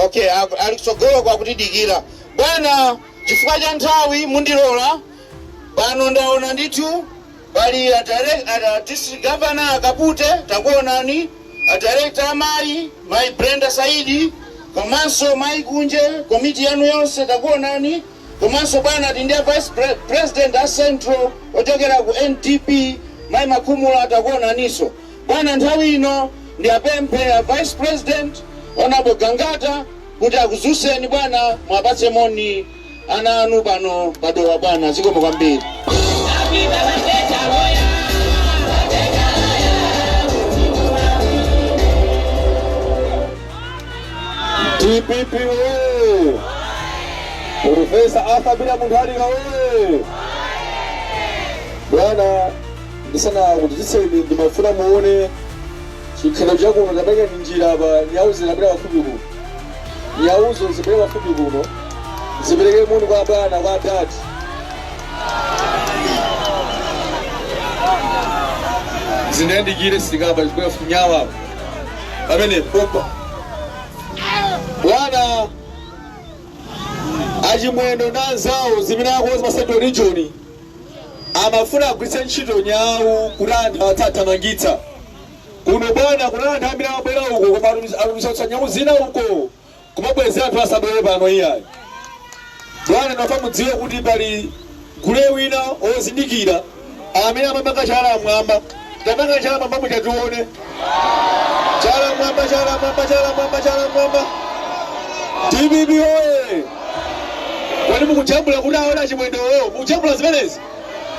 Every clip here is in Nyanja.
okay aku- ali kutsogolo kwakutidikira bwana chifukwa cha nthawi mundilola pano ndaona ndithu pali a direct- a- a district governor akapute takuonani a director amayi mayi brenda saidi komanso mayi kunje komiti yanu yonse takuonani Komanso bwana tili ndi a vice president a central ochokera ku NDP mai Makhumula takuonaniso bwana nthawi ino ndi apemphe a vice president honourable Gangata kuti akudzutseni bwana muwapatse moni ana anu pano pa Dowa bwana zikomo kwambiri. Dpp woyee! Professor Arthur Peter Mutharika woyee! Bwana, ndisanakudziwitseni ndimafuna muone chikhalidwe cha kuno taperekani njira apa nyawu zinabwera pafupi kuno nyawuzo zibwere pafupi kuno zipereke moni kwa bwana kwa adadi zindiyandikire sikapa zipita funyawa pamene pompa bwana achimwendo ndi anzawo zimene akonza pa central region amafuna agwiritse ntchito nyawu kuti anthu awathamangitse kuno bwana kuli anthu ambiri amabwera uko koma atumizanso nyawu zina uko Kumabweza anthu asabwere pano iyayi bwana ndimafuna mudziwe kuti pali gule wina ozindikira amene amapanga chala mmwamba tapangani chala mmwamba muja tione chala mmwamba chala mmwamba chala mmwamba chala mmwamba dpp oye kodi mukujambula kuti aone achimwendowo mukujambula zimenezi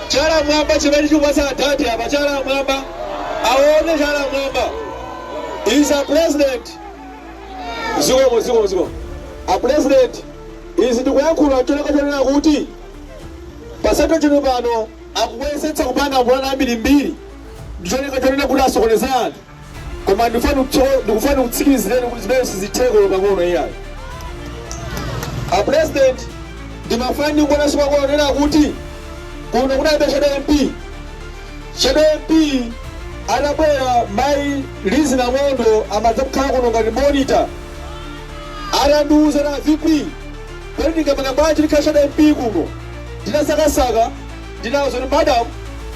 chala mmwamba chimene chikupatsa adati apa chala mmwamba aone chala mmwamba is a president Zikomo zikomo zikomo apulezidenti izi ndikuyankhula ncholinga chonena kuti pa central region pano akuyesetsa kupanga mapulani ambirimbiri ndicholinga chonena kuti asokoneze anthu koma ndikufuna kutso- ndikufuna ndikutsimikizireni kuti zimenezi sizitheka olo pang'ono iyayi apulezidenti ndimafuna kuonanso pang'ono nena kuti kuno kunalibe shadow mp Shadow MP anabwera mai Lizzie Ndomondo amadzakhala kuno ngati monitor atandiuza kuti a VP kodi ndingapange bwanji ndikhale Shadow MP kuno ndinasakasaka ndinawauza kuti madam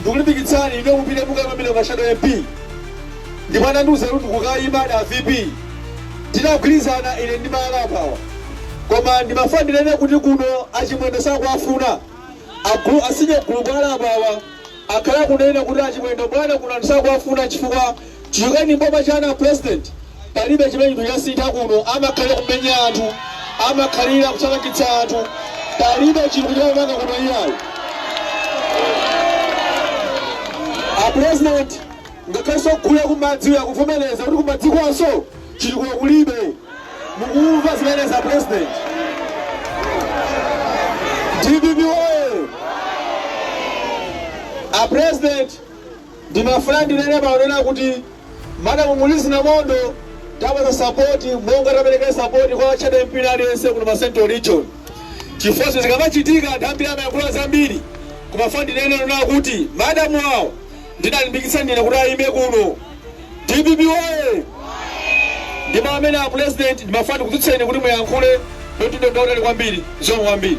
ndikulimbikitsani ine mupite mukaimire ngati Shadow MP ndipo anandiuza kuti ndikukaimadi a VP tinagwirizana ine ndi mai ali apawa koma ndimafuna ndinene kuti kuno achimwendo sakuwafuna agulu asinye gulu kwa ali apawa akhala akunena kuti achimwendo bwana kuno anthu sakuwafuna chifukwa chichokereni m'boma chanu a president palibe chimene chinthu chasintha kuno amakhalira kumenya anthu amakhalira kuthamangitsa anthu palibe chinthu chimene amanga kuno iyayi a president ngakhalenso gulu la kumadzi akuvomereza kuti kumadzi kwanso Chitukuko kulibe. Mukumva zimenezi a President? Dpp woye! A President, ndimafuna ndinene pano kunena kuti Madam Lizi Namondo tawapatsa support monga tapereka support kwa Shadow MP wina aliyense kuno pa Central Region. Chifukwa zinthu zikamachitika anthu ambiri amayankhula zambiri. Koma ndimafuna ndinene kunena kuti Madam awo ndinalimbikitsa ndine kuti ayime kuno. Dpp woye! Ndi pamene a pulezidenti ndimafuna ndikudzutseni kuti muyankhule ku mtundu wa Malawi kwambiri. Zikomo kwambiri.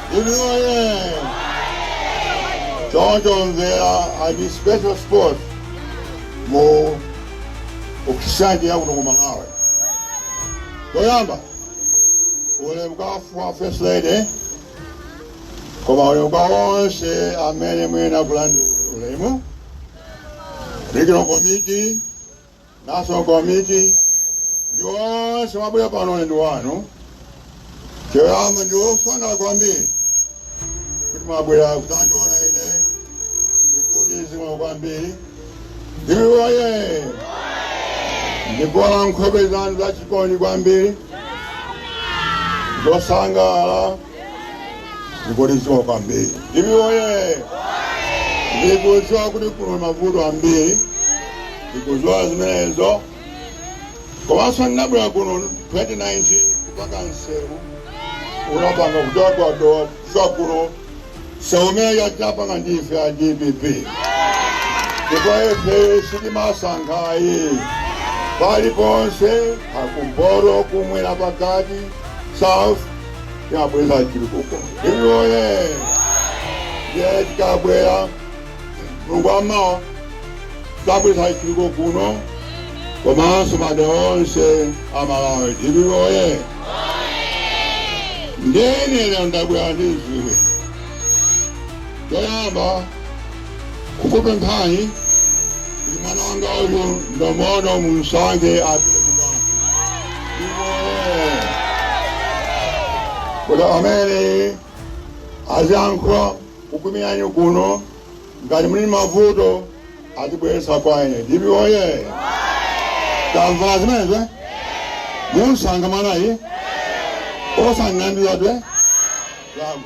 woyee choncho Mvera ali ndi special spot mu history ya kuno ku malawi choyamba ulemu kwa first lady komanso ulemu kwa onse amene muyenera kulandira ulemu regional committee National Committee ndi onse mwabwera pano ulemu wanu choyamba ndine osangalala kwambiri kuti mwabwera kudzandiona ine ndikudziwa kwambiri dpp woye ndikuona nkhope zanu zachikondi kwambiri zosangalala ndikudziwa kwambiri dpp oye ndikudziwa kuti kuno mavuto ambiri ndikudziwa zimenezo komanso ndinabwera kuno 2019 kupanga msewu unapanga kuchoka kwa dowa kudza kuno msewu umene anachapanga ndi ife a dpp ndipo ife sitimasankha ayi paliponse kumpoto kumwera pakati south tikabweretsa chitukuko dpp woye ndiye tikabwera mu boma tikabweretsa chitukuko kuno komanso madera onse a malawi dpp woye nde lero ndabwera ndidziwe choyamba Kukupemphani mwana wanga uyu Ndomondo mumusankhe apite ku bwalo DPP oye kuti amene aziyang'anira kukuimirani kuno ngati muli ndi mavuto azibweretsa kwa ine DPP oye tamva zimenezo eh? mumusankha mwanayi osangandiladwe lamu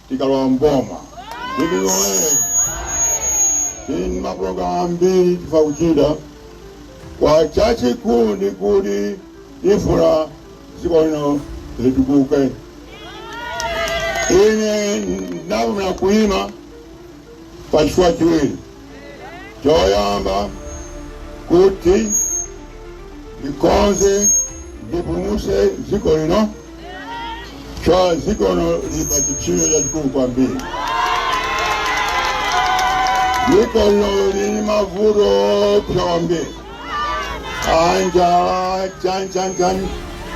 tikalowa mboma DPP oye tili ndi mapulogalamu ambiri tifuna kuchita koma chachikulu ndi kuti tifuna dziko lino litukuke ine ndavumira kuima pa zifukwa ziwiri. Choyamba, kuti ndikonze ndipulumutse dziko lino, chifukwa dziko lino lili pa chipsinjo chachikulu kwambiri. Dziko lino lili ndi mavuto oopsa kwambiri. a njala chanichani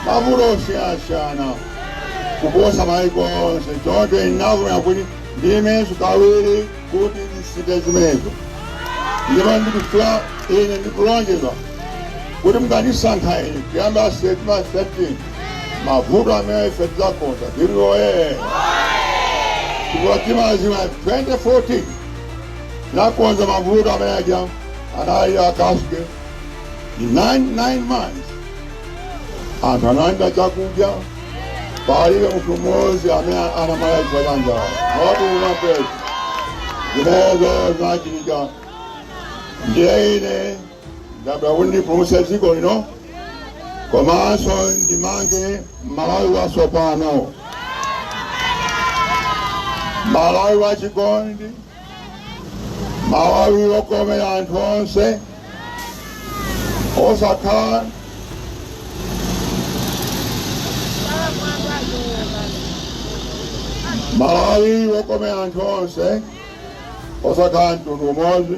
mavuto osiyanasiyana kuposa maiko onse choncho ndinavomera kuti ndiimenso kawiri kuti ndisinthe zimenezo ndipo ndikufuna ine ndikulonjeza kuti mukandisankha ine kuyambira September 13 mavuto amenewa ife tidzakonza DPP oye chifukwa timadziwa 2014 nakonza mavuto amene aja anali a cashgate in 9 9 months anthu analandira chakudya palibe munthu mmodzi amene anamwalira chifukwa cha njala wabodza ndani zimenezo zinachitika ndiye ine ndabwera kuti ndipulumutse dziko lino komanso ndimange malawi watsopano malawi wachikondi malawi wokomera anthu onse osakhala malawi wokomera anthu onse osakhala mtundu umodzi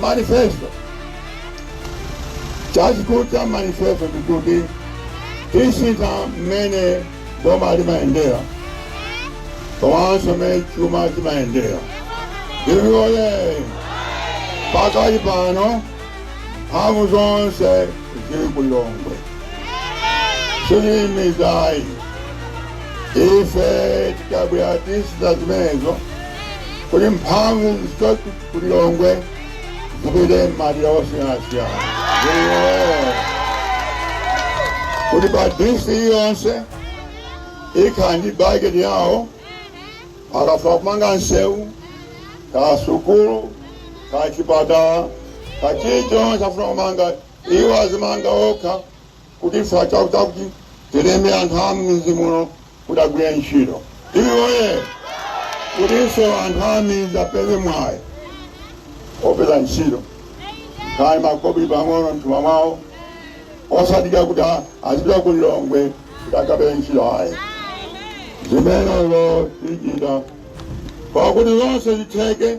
manifesto chachikulu cha manifesto ndikuti tisintha mmene boma limayendera komanso mmene chuma chimayendera DPP oye pakali pano mphamvu zonse zili ku Lilongwe simudziwayi ife tikabwera tisintha zimenezo kuti mphamvu ku Lilongwe zipite m'madera osiyanasiyana. Ee. Kuti pa DC yonse ikhala ndi bajeti yawo akafuna kumanga nsewu kaya sukulu kaya chipatala kaya chilichonse afuna kumanga iwo azimanga okha kuti ife chifukwa choti tilembe anthu a m'midzi muno kuti agwire ntchito DPP woyee kutinso anthu a m'midzi apeze mwayi opeza ntchito kaya makobiri pang'ono m'thumba mwawo osadikira kuti a- azipita ku lilongwe kuti akapeze ntchito ayi zimenezo tichita pakuti zonse zitheke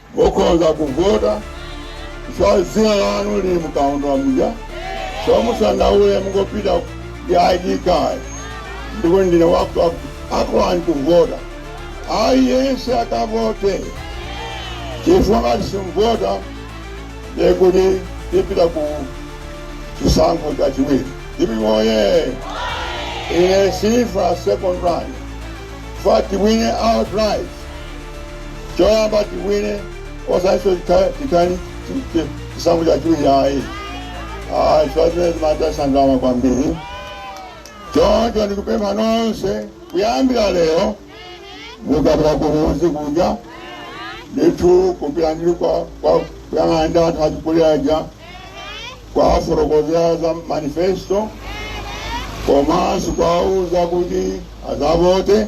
Mukhoza kuvota chifukwa dzina lanu lili mkaundula muja so musandaule mungopita ndi ID card ndikuti ndine wakuti akulolani kuvota. Aliyense akavote chifukwa ngati simuvota ndekuti tipita ku chisankho chachiwiri. Dpp woyee! Ine sindifuna second round chifukwa tiwine outright. choyamba tiwine osatinso tipange chisankho chachiwiri ayi ayi chifukwa zimenezi zimataya ndalama kwambiri choncho ndikupempha nonse kuyambira lero mukapita kumuzi kuja ndithu kupita ndili kwa kwa- kuyang'ana ndi anthu achikuliraja kuwafotokozera za manifesto komanso kuwauza kuti azavote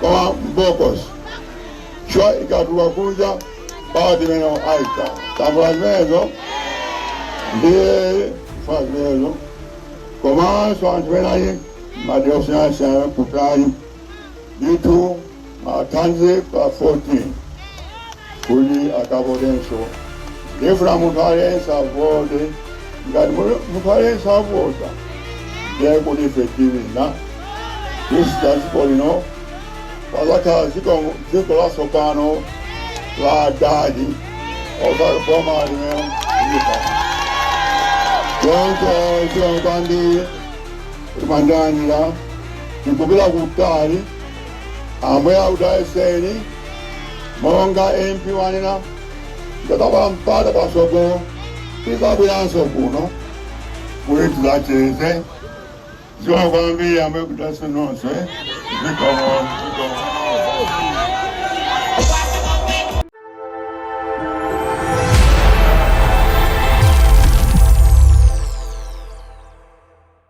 kwa mbokosi chwa ikatula kunja pawa timenewo aika Tambala zimenezo ndiye fa zimenezo komanso anthu enayi madera osiyanasiyana kutali ndithu athandize pa 14 kuti akavotenso. Ndifuna munthu aliyense avote. Ngati munthu aliyense avota, ndiye kuti ife tiwina. Tisintha dziko lino pazakhala dziko latsopano la adadi osati boma limene lipa. Choncho zikomo kwambiri ndimathamangira tikupita kutali Ambuye akudalitseni monga MP wanena ndikapeza mpata pasogolo tizabweranso kuno kuti tizacheze zikomo kwambiri ambuye akudalitseni nonse zikomo zikomo